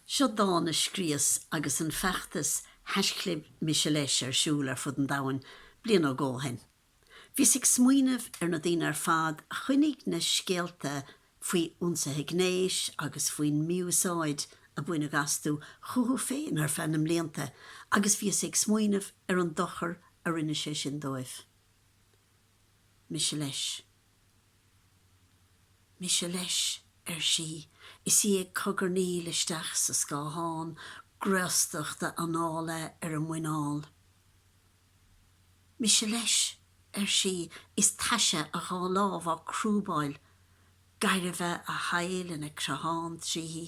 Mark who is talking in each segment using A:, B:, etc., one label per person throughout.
A: Seo dán a scríos agus an feachtas Haisclib Mise Leis ar siúl ar fud an domhain bliain nó dhó ó shin. Bhíos ag smaoineamh ar na daoine ar fad a choinnigh na scéalta faoi ionsaithe gnéis agus faoin mí-úsáid a baineadh astu chucu féin ar feadh na mblianta agus bhíos ag smaoineamh ar an dochar a rinne sé sin dóibh. Mise Leis. mise leis, ar sí, is í ag cogarnaíl isteach sa scáthán graostachta anála ar a muineál. Mise leis, ar sí, is taise a dhá lámh á crúbáil, gairbhe a thadhaill ina creathán tríthi.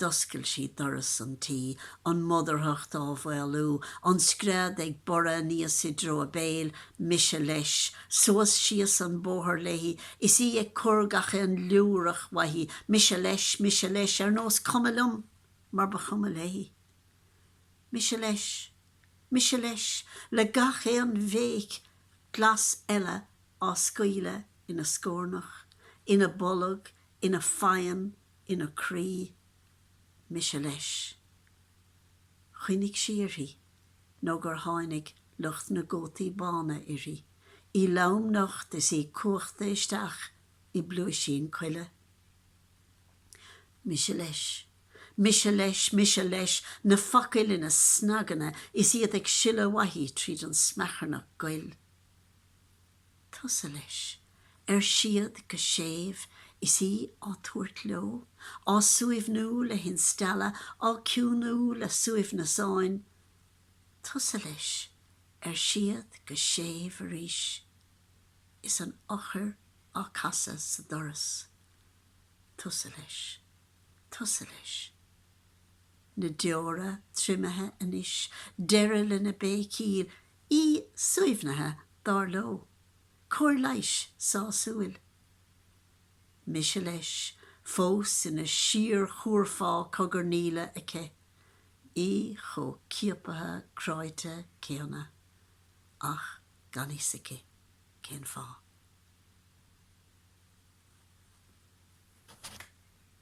A: D'oscail sí doras an tí, an mhodarthacht á mhaolú, an scread ag borradh aníos i dtreo a béil, mise leis. Suas síos an bóthar léi, is í ag cur gach aon liúrach uaithi, mise leis, mise leis, ar nós cuma liom, mar ba chuma léi. Mise leis, mise leis, le gach aon bhéic glas eile á scaoileadh ina scornach, ina bolg, ina faighin, ina croí mise leis. Choinnigh sí uirthi nó gur tháinig lucht na gcótaí bána uirthi, í lom nocht is í cuachta isteach i bpluaisín coille. Mise leis, mise leis, mise leis, na focail ina snaganna is iad ag sileadh uaithi tríd an smeacharnach ghoil. tusa leis, ar siad go séimh is í á tabhairt leo, á suaimhniú le hinstealladh, á ciúnú le suaimhneasáin. Tusa leis, ar siad go séimh arís, is an eochair á casadh sa doras. Tusa leis. Tusa leis. Na deora triomaithe anois, deireadh lena béicíl, í suaimhnithe dár leo. Cóir leighis sásúil. Mise leis, fós ina síorchúrfá cogarnaíle aici. Í chomh ciapaithe cráite céanna. Ach gan fhios aici cén fáth.